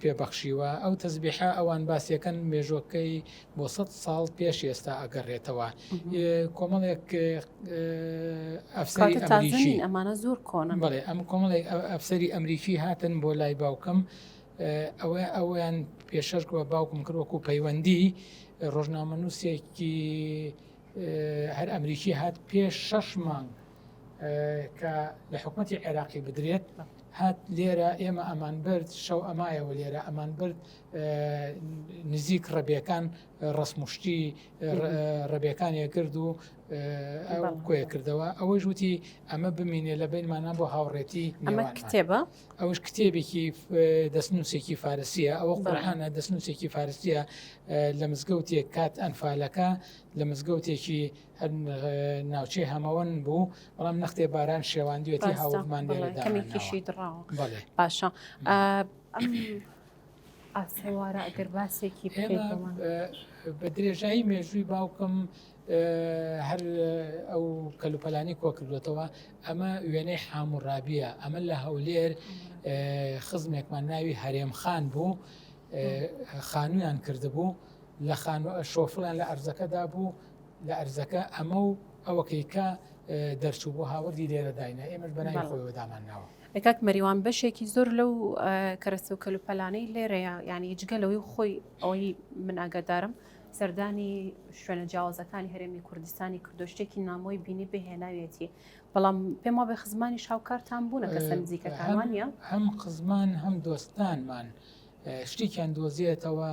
پێ بەخشیوە ئەو تەزبیحە ئەوان باسیەکەن مێژۆکەی بۆ سە ساڵ پێش ئێستا ئەگەڕێتەوە کۆمەڵێک ئەفسەری ئەمانە زۆر کۆن بڵێ ئەم کۆمەڵێک ئەفسەری ئەمریکی هاتن بۆ لای باوکم ئەوە ئەویان پێشەرکەوە باوکم کرد وەکو پەیوەندی ڕۆژنامە نووسێکی هەر ئەمریکی هات پێش شەش مانگ کە لە حکوومەتی عێراقی بدرێت هات لێرە ئێمە ئەمان برد شەو ئەمایەوە لێرە ئەمان برد نزیک ڕەبیەکان ڕسمشتی ڕەبیەکانیە کرد و کۆیە کردەوە ئەوەی ژووتی ئەمە بمینێ لە بینمانە بۆ هاوڕێتی ئەمە کتێبە ئەوش کتێبێکی دەستنووسێکی فارسیە ئەوە قڕحانە دەستنووسێکی فارسیە لە مزگەوتێک کات ئەنفالەکە لە مزگەوتێکی هەر ناوچەی هەمەوەن بوو بەڵام نەختێ باران شێواندوێتی هاوڵمان لێرەداکەمیکیشی دڕاوە باشە ئاسەوارە ئەگەر باسێکی بە درێژایی مێژووی باوکم هەر ئەو کەلوپەلانی کۆکردوێتەوە ئەمە وێنەی حاموڕابیە ئەمە لە هەولێر خزمێکمان ناوی هەرێم خان بوو خانویان کردبوو لە خانوو شۆفڵیان لە ئەرزەکەدا بوو لە ئەرزەکە ئەمە و ئەوەکەی کە دەرچوو بۆ هاوردی لێرە داینە ئێمەش بەناوی خۆیەوە دامان ناوە ئەکاک مەریوان بەشێکی زۆر لەو کەرەسە و کەلوپەلانەی لێرەیە یعنی جگە لەوەی خۆی ئەوەی من ئاگادارم سەردانی شوێنە جیاوازەکانی هەرێمی کوردستانی کردو شتێکی نامۆی بینی بهێناوێتی بەڵام پێم وابێ خزمانی شاوکارتان بوونە کەسە نزیکەکانوانە هەم خزمان هەم دۆستانمان شتێکیان دۆزیێتەوە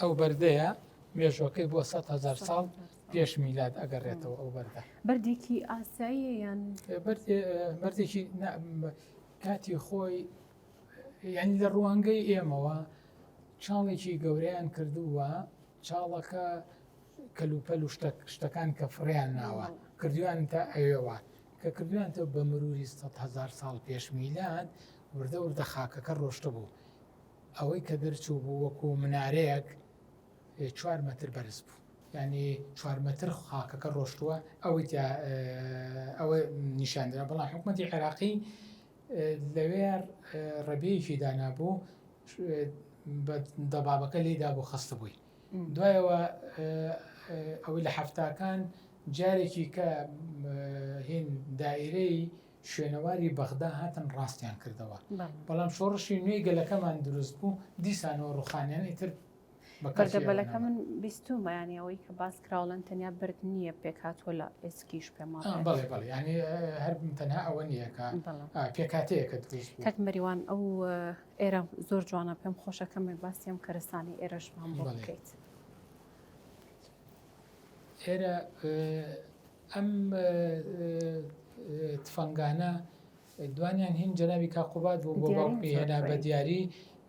ئەو بەردەیە مێژوەکەی بۆ 100هزار ساڵ پێش میلاد ئەگەڕێتەوە ئەو بەردە بەردێکی ئاساییە یان بەردێکی کاتی خۆی یعنی لە ڕوانگەی ئێمەوە چاڵێکی گەورەیان کردووە چاڵەکە کەلوپەل و شتەکان کە فڕیان ناوە کردویان تا ئەوێوە کە کردویانتەوە بە مروری هزار ساڵ پێش میلاد وردە وردە خاکەکە ڕۆشتە بوو ئەوەی کە دەرچوو بوو وەکو منارەیەک چوار مەتر بەرز بوو ینی چوار مەتر خاکەکە ڕۆشتووە ئەوەی ئەوە نیشاندرا بەڵام حکوومەتتی عێراقی لەوێ ڕێبیەکی دانابوو بە دەبابەکە لێی دابوو خەستبووی دوایەوە ئەوەی لە حەفتاکان جارێکی کە هین دائرەی شوێنەواری بەغدا هاتن ڕاستیان کردەوە بەڵام شۆڕشی نوێی گەلەکەمان دروست بوو دیسانەوە ڕوخانیان ئیتر بەردەبەلەکە من بیستومە ینی ئەوەی کە باس کراوڵەن تەنیا برد نییە پێکاتوە لە ئێسکیش پێم بڵێ بڵێ ینی هەر تەنها ئەوە نییەکە پێکاتەیەکە دروست تەک مەریوان ئەو ئێرە زۆر جوانە پێم خۆشەکەمێک باسی ئەم کەرستانی ئێرەشمان بۆ بکەیت ئێرە ئەم تفەنگانە دوانیان هین جەنابی کاک قوباد بوو بۆ دیاریم باوکمی زۆر هێنا بە خۆی. دیاری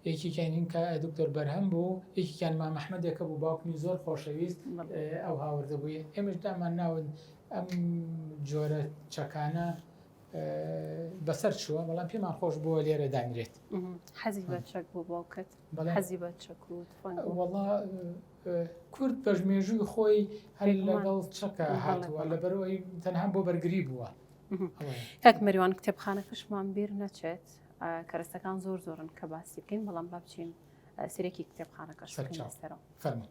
یەکیکیان هین کا دکتۆر بەرهەم بوو یەکیکیان مام ئەحمەدێکە بوو باوکمی زۆر خۆشەویست بەڵێ. ئەو هاوردە بووی ئێمەش دامان ناون ئەم جۆرە چەکانە بەسەر چووە بەڵام پێمان خۆش بووە لێرە دانرێت. حەزی بە چەک بوو باوکت بەڵێ. حەزی بە چەک و تفەنگ بوو. وەڵا کورد پەژمێژووی خۆی هەر بێگومان. لەگەڵ چەکا بەڵێ، هاتووە بەڵێ. لەبەرئەوەی تەنها بۆ بەرگری بووە. کاک مەریوان کتێبخانەکەشمان بیر نەچێت کەرەستەکان زۆر زۆرن کە باسی بکەین بەڵام با بچین سرێکی کتێبخانەکە سەرەوە فەرمو.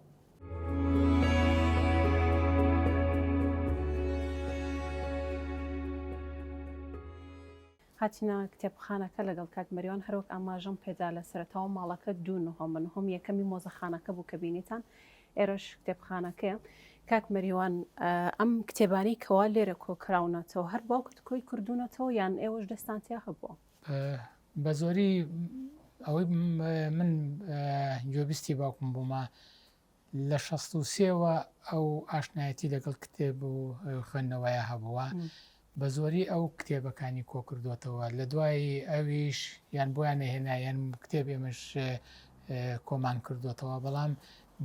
هاتینا کتێبخانەکە لەگەڵ کاک مەریوان هەرۆک ئاماژەم پێدا لە سەرتاوە ماڵەکە دوو نهۆمە نهۆم یەکەمی مۆزەخانەکە بوو کە بینیتان ئێرەش کتێبخانەکەیە. کاک مەریوان ئەم کتێبانەی کەوا لێرە کۆکراونەتەوە هەر باوکت کۆی کردوونەتەوە یان ئێوەش دەستان تیا هەبووە؟ بە زۆری ئەوەی من گوێبیستی باوکم بوومە لە شەست و سێوە ئەو ئاشنایەتی لەگەڵ کتێب و خوێندنەوەیە هەبووە بە زۆری ئەو کتێبەکانی کۆکردۆتەوە لە دوای ئەویش یان بۆیان نەهێنا یان کتێب ئێمەش کۆمان کردۆتەوە بەڵام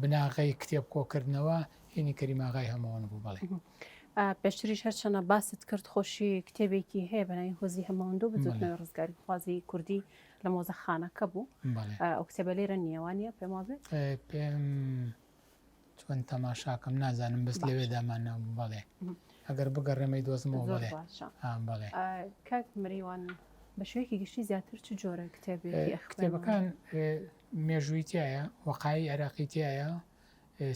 بناغەی کتێب کۆکردنەوە هینی کەریم ئاغای هەمەوەن بوو بەڵێ. پێشتریش هەرچەنە باست کرد خۆشی کتێبێکی هەیە بەناوی هۆزی هەمەوەندو بزوتنەوەی ڕزگاری خوازی کوردی لە مۆزەخانەکە بوو ئەو کتێبە لێرە نیەوانە پێم وابێت پێم چۆن تەماشاکەم نازانم بەس لەوێ دامانە بەڵێ ئەگەر بگەڕێمەی دۆزمەوە بڵێ بڵێ کاک مریوان بە شوێکی گشتی زیاتر چ جۆرە کتێبی کتێبەکان مێژووی تایە وەقایی عێراقی تایە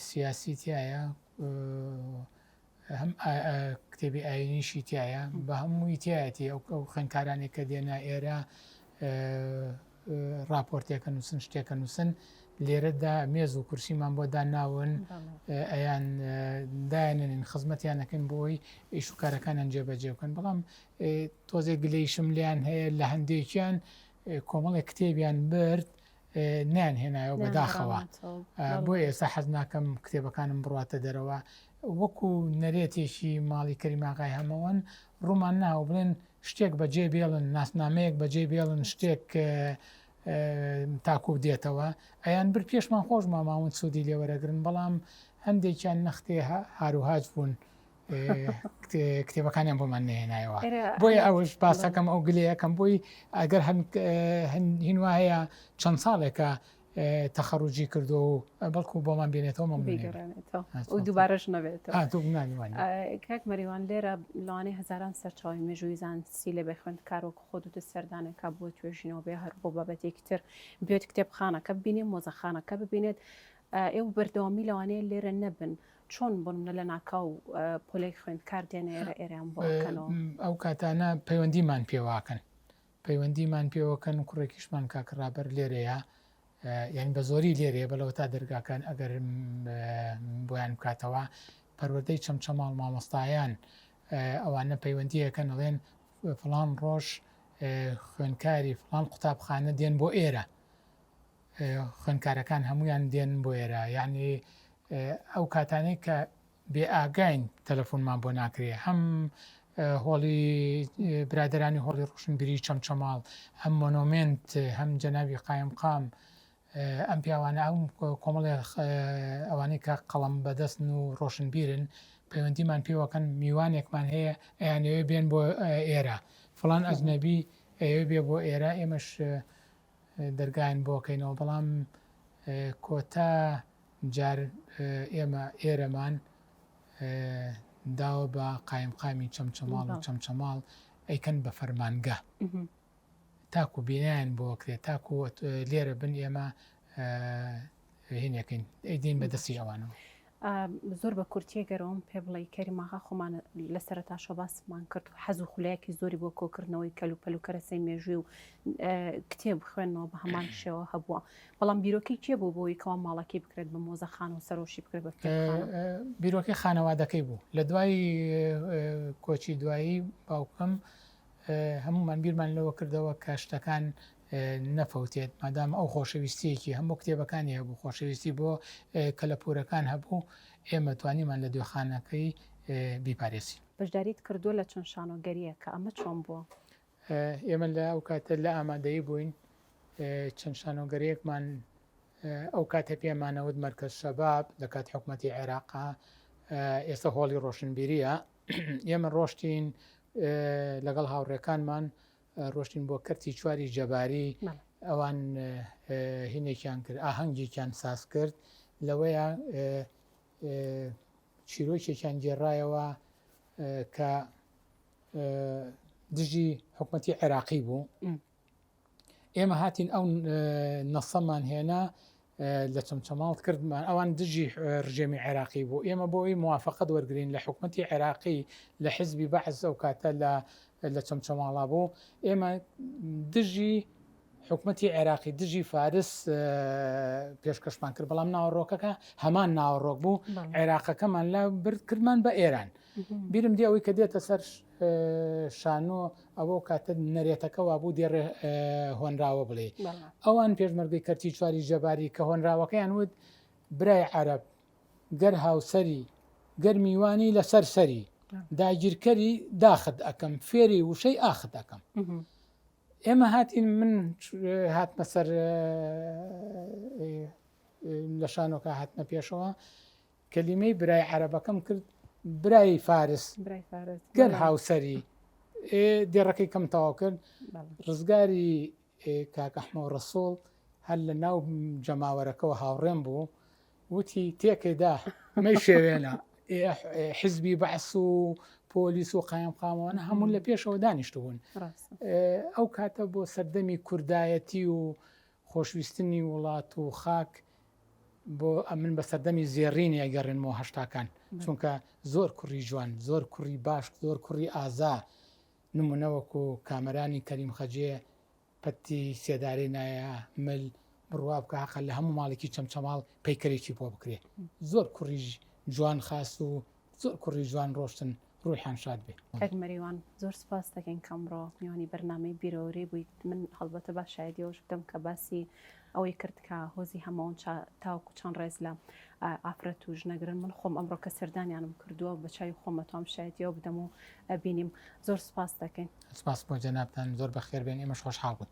سیاسی تایە هەم کتێبی ئاینیشی تایە بە هەمووی تایەتی ئەو ئەو خوێنکارانێک کە دێنا ئێرە راپۆرتێکە نووسن شتێکە نووسن لێرەدا مێز و کورسیمان بۆ داناون ئەیان دایانێن خزمەتیانەکەن بۆی ئیش و کارەکانیان جێبەجێ بکەن بەڵام تۆزێک گلەیشم لیان هەیە لە هەندێکیان کۆمەڵێک کتێبیان برد نەیان هێنایەوە بەداخەوە بۆ ئێستا حەز ناکەم کتێبەکانم بڕاتە دەرەوە وەکو نەرێتێکی ماڵی کەریماغای هەمەوەن ڕوومان ناوە بڵێن شتێک بەجێ بێڵن ناسنامەیەک بەجێ بێڵن شتێک تاکو دێتەوە ئەیان بر پێشمان خۆش ماماون سوودی لێوەرەگرن بەڵام هەندێکیان نەختێ هاروهاج بوون کتێبەکانیان بۆمان نهێنایەوە بۆیە ئەوش باسەکەم ئەو گلێ یەکەم بۆی ئەگەر هەن وایە چەند ساڵێکە تەخەڕوجی کردو و بەڵکو بۆمان بێنێتەوە مە دووبارەش نەبێت کاک مەریوان لێرە لەوانەی هزاران سەرچاوی مێژووی زانستی لە بێخوێند کارۆک خۆ دوت سەردانێکا بۆ توێژینەوە بێ هەر بۆ بابەتێکی تر بێت کتێبخانەکە ببینێ مۆزەخانەکە ببینێت ئێو بەردەوامی لەوانەیە لێرە نەبن چۆن بوون لە لەناکاو پۆلێک خوێندکار دێنە ئێرە ئێرەیان بۆ ئەکەنەوە؟ ئەو کاتانە پەیوەندیمان پێواکەن پەیوەندیمان پێوەکەن کوڕێکیشمان کاکە ڕابەر لێرەیە یعنی بە زۆری لێرەیە بەلەوە تا دەرگاکان ئەگەر بۆیان بکاتەوە پەروەدەی چەمچەماڵ مامۆستایان ئەوانە پەیوەندیەکەن ئەڵێن فلان ڕۆژ خوێنکاری فلان قوتابخانە دێن بۆ ئێرە خوێندکارەکان هەموویان دێن بۆ ئێرە یاعنی ئەو کاتانەی کە بێ ئاگاین تەلەفۆنمان بۆ ناکرێ هەم هۆڵی برادرانی هۆڵی ڕوشنبیری چەمچەماڵ هەم مۆنۆمنت هەم جەناوی قایم قام ئەم پیاوانە ئەم کۆمەڵێ ئەوانەی کە قەڵم بەدەستن و ڕۆشنبیرن پەیوەندیمان پێوەکەن میوانێکمان هەیە ئەیانەوێ بێن بۆ ئێرە فلان ئەزنەبی ئەوێ بێ بۆ ئێرە ئێمەش دەرگایان بۆ کەینەوە بەڵام کۆتا جار ئێمە ئێرەمان داوە بە قایمقامی چەمچەماڵ و چەمچەماڵ ئەیکەن بە فەرمانگە تاکو بینیان بۆکرێت تاکو لێرە بن ئێمە هینەکەین ئەیدین بە دەستی ئەوانەوە زۆر بە کورتی ئەگەر ئەوەم پێ بڵێی کەریم ئاغا خۆمان لە سەرەتاشەوە باسمان کرد حەز و خولایەکی زۆری بۆ کۆکردنەوەی کەلوپەل و کەرەسەی مێژووی و کتێب بخوێنەوە بە هەمان شێوە هەبووە بەڵام بیرۆکەی کێ بوو بۆی کەوا ماڵەکەی بکرێت بە مۆزەخان و سەرۆشی بکرێت بە کتێبخانە؟ بیرۆکەی خانەوادەکەی بوو لە دوای کۆچی دوایی باوکم هەمومان بیرمان لەوە کردەوە کە شتەکان نەفەوتێت مادام ئەو خۆشەویستیەکی هەموو کتێبەکانی هەبوو خۆشەویستی بۆ کەلەپورەکان هەبوو ئێمە توانیمان لە دۆخانەکەی بیپارێزین. بەشداریت کردووە لە چەند شانۆگەرییەکە ئەمە چۆن بووە؟ ئێمە لە ئەو کاتە لە ئامادەیی بووین چەند شانۆگەریەکمان ئەو کاتە پێمانەوت مەرکەز شەباب لە کات حکوومەتتی عێراقا ئێستا هۆڵی ڕۆشنبیریە ئێمە ڕۆشتین لەگەڵ هاوڕێکانمان ڕۆشتین بۆ کەرتی چواری جەباری ئەوان هینێکیان کرد ئاهەنگێکیان ساز کرد لەوەیە چیرۆکێکیان گێڕایەوە کە دژی حکوومەتی عێراقی بوو ئێمە هاتین ئەو نەسەمان هێنا لە چەمچەماڵ کردمان ئەوان دژی ڕژێمی عێراقی بوو ئێمە بۆی موواافقت وەرگین لە حکوومەتتی عێراقی لە حزبی بەعز ئەو کاتە لە لە چەمچەماڵا بوو ئێمە دژی حکوومەتتی عێراقی دژی فارس پێشکەشمان کرد بەڵام ناوەڕۆکەکە هەمان ناوەڕۆک بوو عێراقەکەمان لە برد کردمان بە ئێران بیرم دی ئەوەی کە دێتە سەر شانۆ ئەوەو کاتە نەرێتەکە وابوو دێ ڕێ هۆنراوە بڵێ ئەوان پێشمەرگەی کەرتی چواری جەباری کە هۆنراوەکەیان وت برای عەرب گەر هاوسری گەر میوانی لەسەر سەری داگیرکەری داخت ئەەکەم فێری وشەی ئاخت ئەەکەم ئێمە هاتین من هاتمە سەر لە شانۆکە هاتمە پێشەوە کەلیمەی برای عەرەبەکەم کرد برای فارس برای فارس گەر بەڵێ. هاوسەری ئێ دێڕەکەی کەم تەواو کرد بەڵێ. ڕزگاری ئێ، کاک ئەحمە و ڕەسوڵ هەر لە ناو جەماوەرەکەەوە هاوڕێم بوو وتی تێکێدا مەی شێوێنە ئێ، ئێ، حزبی بەعس و پۆلیس و قایم قامەوانە هەموو لە پێشەوە دانیشتبوون ڕاستە ئەو کاتە بۆ سەردەمی کوردایەتی و خۆشویستنی وڵات و خاک بۆ ئەمن بە سەردەمی زێڕینی ئەگەڕێنمەوە هەشتاکان چونکە زۆر کوڕی جوان زۆر کوڕی باش زۆر کوڕی ئازا نمونە وەکو کامەرانی کەریم خەجێ پەتی سێدارەی نایە مل بڕوا بکە هەقە لە هەموو ماڵێکی چەمچەماڵ پەیکەرێکی بۆ بکرێ زۆر کوڕیژ جوان خاس و زۆر کوڕی جوان ڕۆشتن ڕوحیان شاد بێ. کاک مەریوان زۆر سوپاست دەکەین کە ئەمڕۆ میوانی بەرنامەی بیرەوەری بوویت من هەڵبەتە با شایەدی ئەوەش بدەم کە باسی ئەوەی کرد کە هۆزی هەمەوەنچا تاوەکو چەند ڕێز لە ئافرەت و ژنەگرن من خۆم ئەمڕۆ کە سەردانیانم کردووە بە چاوی خۆم ئەتوام شایەدی ئەوە بدەم و بینیم زۆر سوپاست دەکەین. سوپاس بۆ جەنابتان زۆر بەخێربێن ئێمەش خۆشحاڵ بووین.